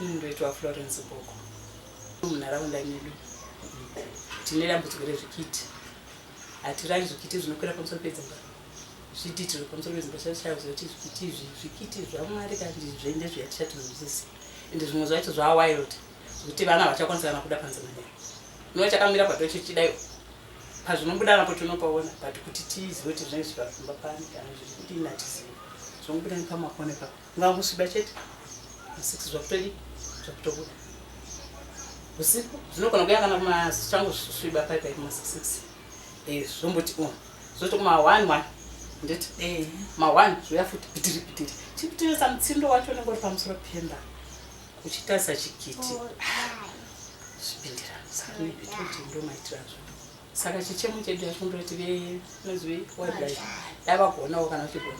Ini ndoitwa Florence Boko. Munharaunda medu tine dambudziko rezvikiti. Hatiravi zvikiti zvinokwira pamusoro pedzimba. Zviti tiri pamusoro pedzimba chaivo zoti zvikiti izvi zvikiti zvamwari kandi zvende zviya tichatinzwisisi. Ende zvimwe zvacho zvaa wild zvekuti vana havachakwanisa kana kuda panze manyaya. Ndoo chakamira patocho chidaiwo. Pazvinobuda napo tinopaona but kuti tizive kuti zvinenge zviri pamba pano kana zviri kudini hatizivi. Zvongobuda nepamakona ipapo. Ngamusviba chete masix zvakutodi zvakutobuda usiku zvinogona kuya kana kumachangu sviba paipai kumasix eh, zvomboti u zvoto kuma one one nditi eh. ma one zvoya futi pitiri pitiri chikutirisa mutsindo wacho unenge uri pamusoro pemba uchitarisa chikiti oh, zvipindira saka nevetoti ndo maitira zvo saka chichemo chedu yacho ndoti ve nozivei waibai dai vakuonawo kana uchigona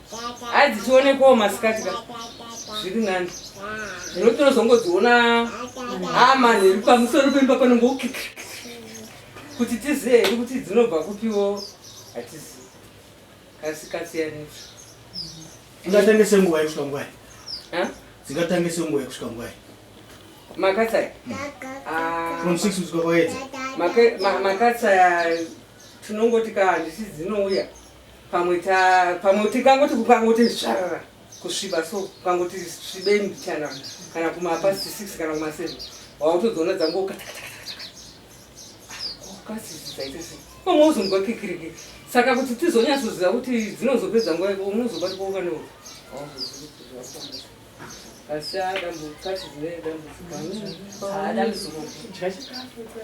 Adzi tione ko masikati ka. Zviri nani. Zvino tinozongodziona ama neri pamusoro pemba pano ngo kuti tiziye heri kuti dzinobva kupiwo hatizi kasikasiyanisa. Ungatanga senguva yekusvika ngwai. Ha? Dzingatanga senguva yekusvika ngwai. Makatsaya. Hmm. Ah. From 6 kusvika kwaedza. Makatsaya tinongoti ka handisi dzinouya. pamwe ta pamwe tikangoti kukangoti zvarara kusviba so kukangoti svibei mbichana kana kumapast six kana kumaseven wautodziona dzango ukasizidzaitese pamwe uzonzwa kikiriki saka kuti tizonyatsoziva kuti dzinozopedza nguva yako unozobati kwaukanewo asi adambudziko adambudziko